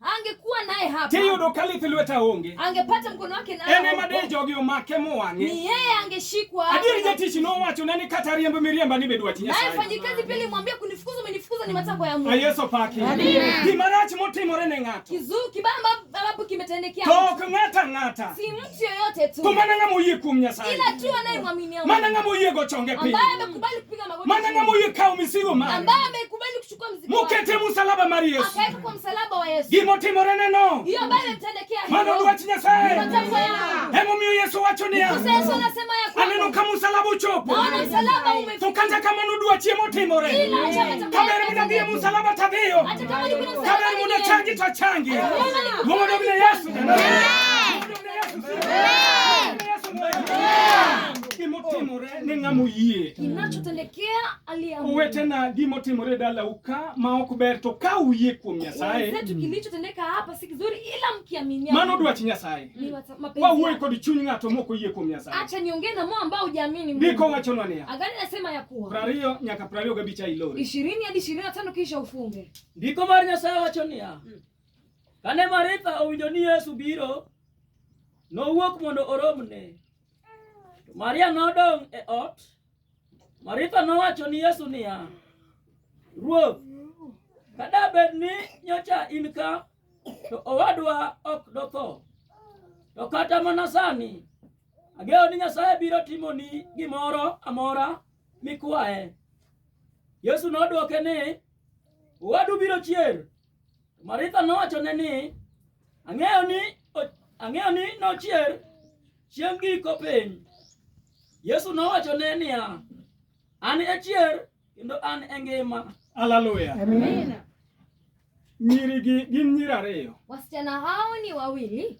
angekuwa naye hapa tiyudo ka lith lweta onge angepata mkono wake naye en ema de jogi omake mowang'e ni yeye angeshikwa adieri jatich nowacho ne ni kata riembo miriemba ni bedwa tinya naye mfanyikazi pia alimwambia kunifukuza umenifukuza ni matakwa ya Mungu ah, Yesu paki gima rach motimore ne ng'ato kizuri kibaya ambapo kimetendekea tok ng'ata ng'ata si mtu yoyote tu kumana ng'ama oyie kuom Nyasaye ila tu anayemwaminia Mungu mana ng'ama oyie go chonge piny ambaye amekubali kupiga magoti mana ng'ama oyie kawo misigo mare ambaye amekubali mukete musalaba mar yesu gimo timorene no mano dwach nyasaye emomiyo yesu wacho niya aneno ka musalaba ochopo to kata kamano dwachi emotimore kaber muda dhiye musalaba tadhiyo kaber muda changi to changi mogodobne yesu gimotimore ne ng'ama oyie uwe tena gimo timore dala uka ma ok ber to ka uye kuom Nyasaye wenzetu kilichotendeka hapa si kizuri ila mkiaminia mano dwach Nyasaye wawuoye kod chuny ng'ato mok oyie kuom Nyasaye acha niongee na moyo ambao hujaamini Mungu ndiko wachonwa niya agani nasema ya kuwa prariyo nyaka prariyo gabich a ilori ishirini hadi ishirini na tano kisha ufunge ndiko mar Nyasaye wacho niya hmm. kane Maritha owinjo ni Yesu biro nowuok mondo oromne Maria nodong' e ot Maritha nowacho ni Yesu niya, Ruoth, kada bed ni nyocha in ka, to owadwa ok dotho. To kata mana sani ageo ni Nyasaye biro timoni gimoro amora mikwaye. Yesu nodwoke ni, Owadu biro chier. Maritha nowachone ni, ang'eyo ni ang'eyo ni nochier chieng' giko piny. Yesu nowachone niya, an e chier kendo an e ngima. Haleluya. Amina. Nyiri gi gin nyiri ariyo. Wasichana hao ni wawili.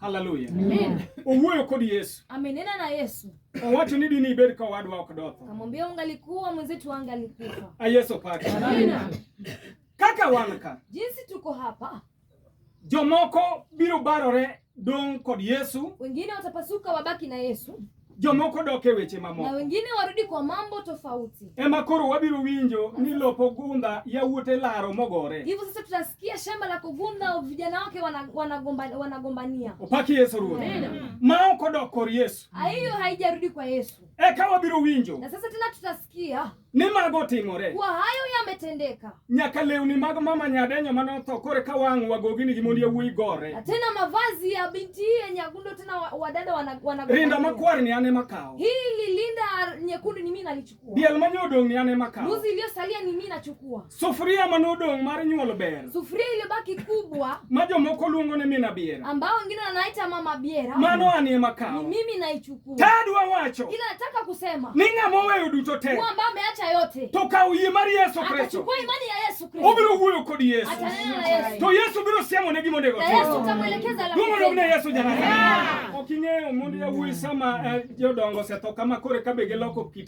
Haleluya. Amen. Owuoyo kod Yesu. Amenena na Yesu. Owacho ni dini ibed ka wadwa ok dotho. Kamwambia ungalikuwa mwenzetu angalikufa. A Yesu pake. Amina. Kaka wan ka. Jinsi tuko hapa. Jomoko biro barore dong kod Yesu. Wengine watapasuka wabaki na Yesu. jomoko dok e weche mamoko na wengine warudi kwa mambo tofauti. Ema koro wabiro winjo ni lopo gundha yawuot e laro mogore. Hivyo sasa tutasikia shamba la kugundha vijana wake wanagombania wana wana opaki Yesu Ruoth ma ok odok kor Yesu. Hiyo haijarudi kwa Yesu. Eka wabiro winjo na sasa tena tutasikia ni mago otimore kwa hayo yametendeka nyaka lewni mag mama nyadenyo mane otho kore ka wang' wagoginigi mondo yawuoyi gore na tena mavazi ya binti hii ya nyagundo tena wa- wadada wana- wana- rinda makwar ni an ema kawo hili linda nyekundu ni mimi nalichukua diel manye odong' ni an ema kawo mbuzi iliyosalia ni mimi nachukua Sufuria manodong' mar nyuolo ber. Sufuria iliyobaki kubwa. Ma jomoko luongo ni mina biera. Ambao wengine wanaita mama biera. Mano anie makao. Ni mimi naichukua. Tadwa wacho. Ila nataka kusema. Ni ng'ama oweyo duto te. Kwa ambao ameacha yote. To kawo yie mar Yesu Kristo. Akachukua imani ya Yesu Kristo. Obiro wuoyo kod Yesu. Atanena na Yesu. To Yesu biro siemo ne gima onego otim. Yesu utamwelekeza la. Dumo ne Yesu jana. Ok ing'eyo mondo yawuoyi sama eh, jodongo osetho kama kore kabe giloko kit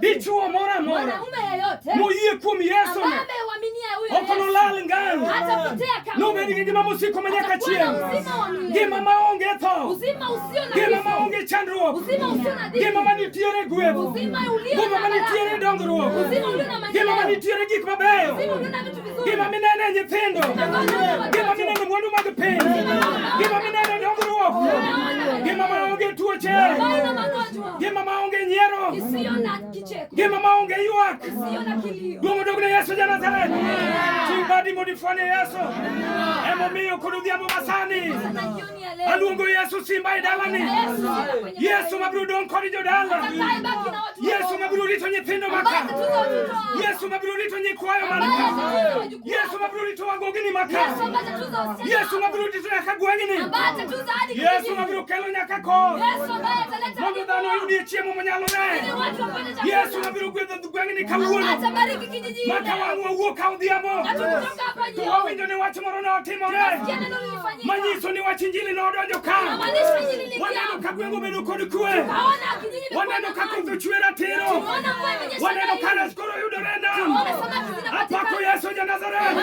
dichuo moro amora moyie kuom Yesu okonolal ngang' nobed gi ngima mosiko ma nyaka chieng', ngima ma onge tho, ngima ma onge chandruok, ngima ma nitiere gweth, ngima ma nitiere dongruok, ngima ma nitiere gik mabeyo. Gima minene nyithindo. Gima minene mwandu mag piny. Gima minene dongruok. Gima maonge tuoche. Gima maonge nyiero. Gima maonge ywak. Duong' odog ne Yesu Janazareth. Chibadi modifwane Yesu. Emomiyo kod odhiambo masani. Aluongo Yesu simba e dalani. Yesu ma biro dong' kod jodala. Yesu ma biro rito nyithindo maka. Yesu ma biro rito nyikwayo man ka. Yesu ma biro rito wagogini maka. Yesu ma biro rito nyaka gweng'ni. Yesu ma biro kelo nyaka kor. Mondo dhano oyudie chiemo manyalore. Yesu ma biro gwedho gweng'ni kawuono. Maka wang'wa wuok ka odhiambo. To wawinjo ni wach moro ne otimore. Manyiso ni wach Injili nodonjo ka. Waneno ka gweng' obedo kod kwe. Waneno ka koth ochwe ratiro. Waneno ka res koro yudore e nam. Apako Yesu ja Nazareth.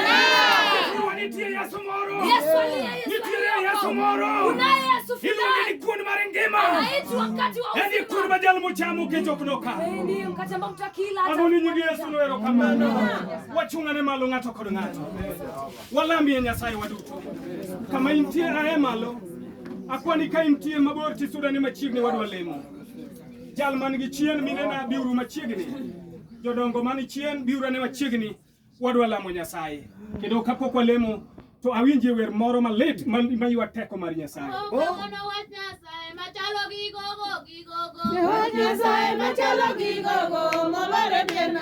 Nitie Yesu moro. Nitie Yesu moro. Iluonge ni kuon mar ngima. En kuon ma jal mochamo kech ok noka. Amoni nyingi Yesu noero kamano. Wachung'ane malo ng'ato kod ng'ato. Walamie Nyasaye waduto. Kama intie ae malo, akwani ka intie mabor tisudane machiegni wadwa lemo. Jal man gi chien minena biuru machiegni. Jodongo man chien biuru ane machiegni wadwa lamo Nyasaye. Kendo kapok walemo to awinje wer moro malit maywa teko mar Nyasaye. Machalo gi gogo gi gogo. Wach Nyasaye machalo gi gogo mobare pien na.